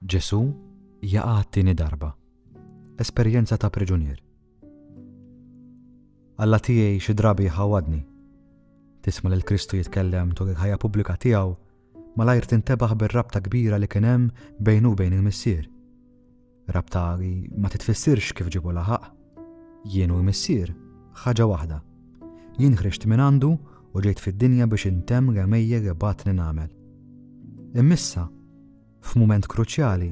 Ġesù jaqa' għat-tieni darba. Esperjenza ta' priġunier. Alla tiegħi xi drabi jħawwadni. Tisma' lil Kristu jitkellem tul il-ħajja pubblika tiegħu, malajr tintebaħ bir-rabta kbira li kien hemm bejnu u bejn il-Missier. Rabta li ma titfissirx kif ġibu laħaq. Jien u l-Missier, ħaġa waħda. Jien ħriġt minn għandu u ġejt fid-dinja biex intemm l-għemejjel li bagħatni nagħmel. Immissa, f'mument kruċjali,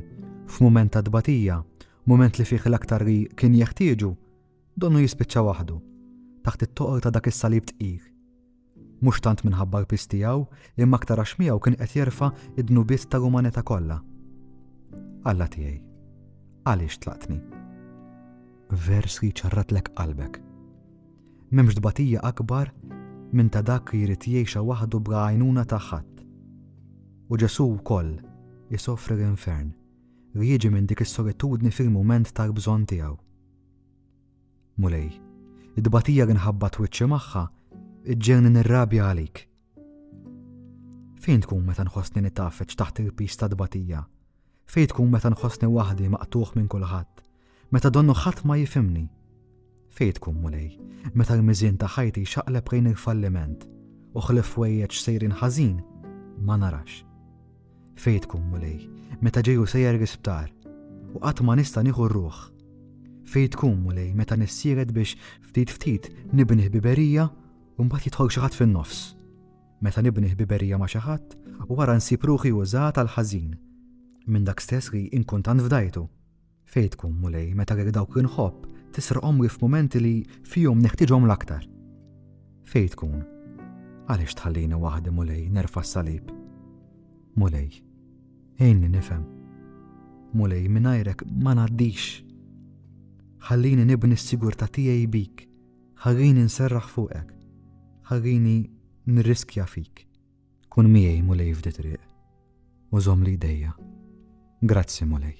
f'mument ta' tbatija, mument li fih l-aktar li kien jeħtieġu, donnu jispiċċa waħdu, taħt it-toqol ta' dak is-salib tqil. Mhux tant minħabba l-piż tiegħu, imma aktar għax miegħu kien qed jerfa' d-dnubiet tal-umanità kollha. Alla tiegħi, għaliex tlaqtni? Vers li ċarratlek qalbek. M'hemmx tbatija akbar minn ta' dak li jrid jgħixha waħdu bla għajnuna ta' ħadd. U Ġesù wkoll isofri l-infern li jiġi minn dik is-solitudni fil-mument tal-bżonn tiegħu. Mulej, it-tbatija li nħabbat wiċċi magħha ġġielni nirrabja għalik Fejn tkun meta nħossni nitgħaffeġ taħt il-piż tat-tbatija? Fejn tkun meta nħossni waħdi maqtugħ minn kulħadd? Meta donnu ħadd ma jifhimni? Fejn tkun Mulej, meta l-miżien ta' ħajti jxaqleb lejn il-falliment u ħlief wejjeġ sejrin ħażin ma narax? Fejn tkun Mulej, meta ġeju sejjer l-isptar u qatt ma nista' nieħu r-ruħ? Fejn tkun Mulej meta nissiered biex ftit ftit nibni ħbiberija u mbagħad jidħol xi ħadd fin-nofs. Meta nibni ħbiberija ma' xi ħadd u wara nsib ruħi użat għall-ħażin minn dak stess li nkun tant fdajtu. Fejn tkun Mulej meta lil dawk li nħobb tisrqhom li f'mumenti li fihom neħtieġhom l-aktar? Fejn tkun? Għaliex tħallini waħdi Mulej nerfa' s-salib? Mulej, għinni nifhem. Mulej, mingħajrek ma ngħaddix. Ħallini nibni s-sigurtà tiegħi bik Ħallieni nserraħ fuqek. Ħallieni nirriskja fik. Kun miegħi Mulej f'di triq u żomm li jdejja. Grazzi Mulej.